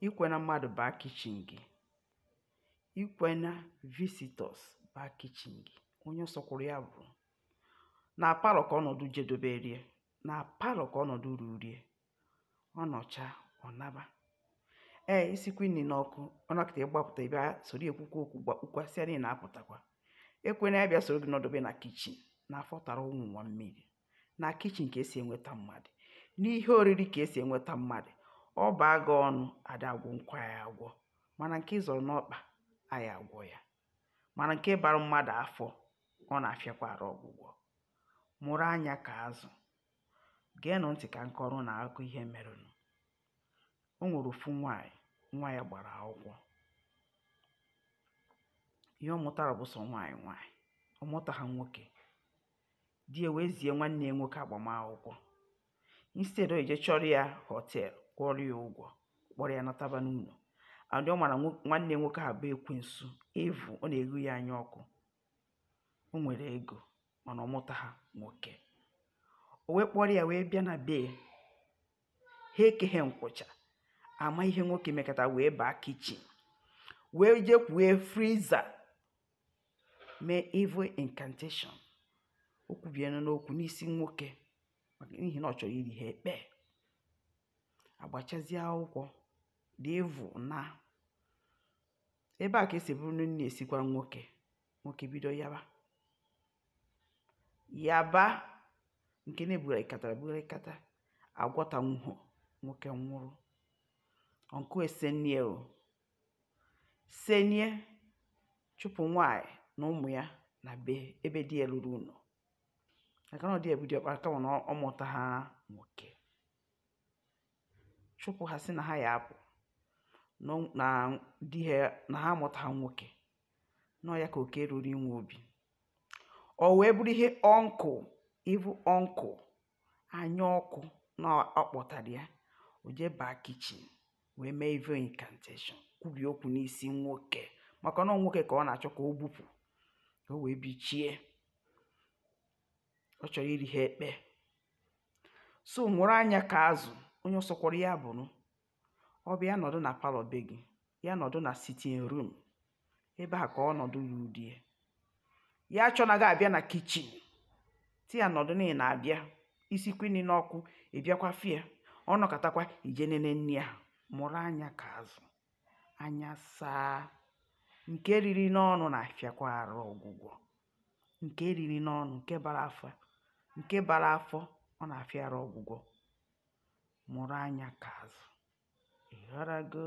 ekwena mmadụ baa kichin gị ekwena visitors baa kichin gị onye sọkwụrụ ya bụrụ na palọ ka ọnọdụ jedobere ya na palọ ka ọnọdụ ruru ya ọ nọcha ọ naba ee i sikwa nri n'ọkụ ọ nọkata ị gbapụta bịa soro ya kwukwa okwu gbakpukwa sie nri na-apụtakwa ekwena ya bịa soro gị nọdobe na kichin na afọ tara ụmụ ụwa mmiri na kichin ka esi enweta mmadụ n'ihe oriri ka esi enweta mmadụ ọ baa gị ọnụ ada agwọnukwa ya agwọ mana nke ị zọrọ n'ọkpa a ya agwọ ya mana nke bara mmadụ afọ ọ na-afịakwa arụ ọgwụgwọ mụrụ anya ka azụ geenụ ntị ka m kọọrọ ụnụ akụkọ ihe merenụ o nwere ofu nwaanyị nwa ya gbara akwụkwọ ihe ọ mụtara bụ sọ nwaanyị nwaanyị ọ mụtaha nwoke di ya wee zie nwanne ya nwoke agbamakwụkwọ instead ọ ya-eje chọọrọ ya hotel kwụọrọ ya ụgwọ kpọrọ ya nataba n'ụlọ adị ọ mara nwanne nwoke a bụ ekwensu evil ọ na-eghu ya anya ọkụ o nwere ego mana ọ mụtaha nwoke o wee kpọrọ ya wee bịa na be ha ekeghe nkwụcha ama ihe nwoke mekata wee baa kichin wee jekwue friza mee evil incantation o kwubienu okwu n'isi nwoke maka n'ihi na ọ chọrọ iri ha ekpe agbachazie akwụkwọ the evil na ebe a ka esi bụrụ na nri esikwara nwoke nwoke bido yaba yaba nke na e bugharịkatara bugharịkata agwọtanwuho nwoke nwụrụ uncle wee senie o Senie, chụpụ nwaanyị na ụmụ ya na be ebe di ya lụrụ ụnọ. Maka na ọ di ya bụ diọkpara kama na ọ mụtaha nwoke. Chụpụ ha sị na ha ya apụ na ọ- na di ha na ha amụtaha nwoke. Na ọ ya ka oke ruru inwe obi. O wee bụrụ ihe uncle, evil uncle anya ọkụ na a kpọtara ya o jee baa kichin wee mee evil incantation kwubie okwu n'isi nwoke maka na ọ nwoke ka ọ na-achọ ka o gbupụ ka o wee bichie ọ chọrọ iri ha ekpe so mụrụ anya ka azụ onye ọ sọkwara ya bụrụ ọ bịa ya nọdụ na palọ be gị ya nọdụ na sitting room ebe a ka ọnọdụ ya rudie ya chọọ na ọ ga-abịa na kichin ti ya nọdụ na ị na-abịa i sikwụ nri n'ọkụ ị bịakwa fụ ya ọ nọkatakwa i jee nene nri a mụrụ anya ka azụ anya saa nke riri n'ọnụ na-afịakwa arụ ọgwụgwọ nke riri n'ọnụ nke bara afọ nke bara afọ ọ na-afịa arụ ọgwụgwọ mụrụ anya ka azụ. Ị ghọtago?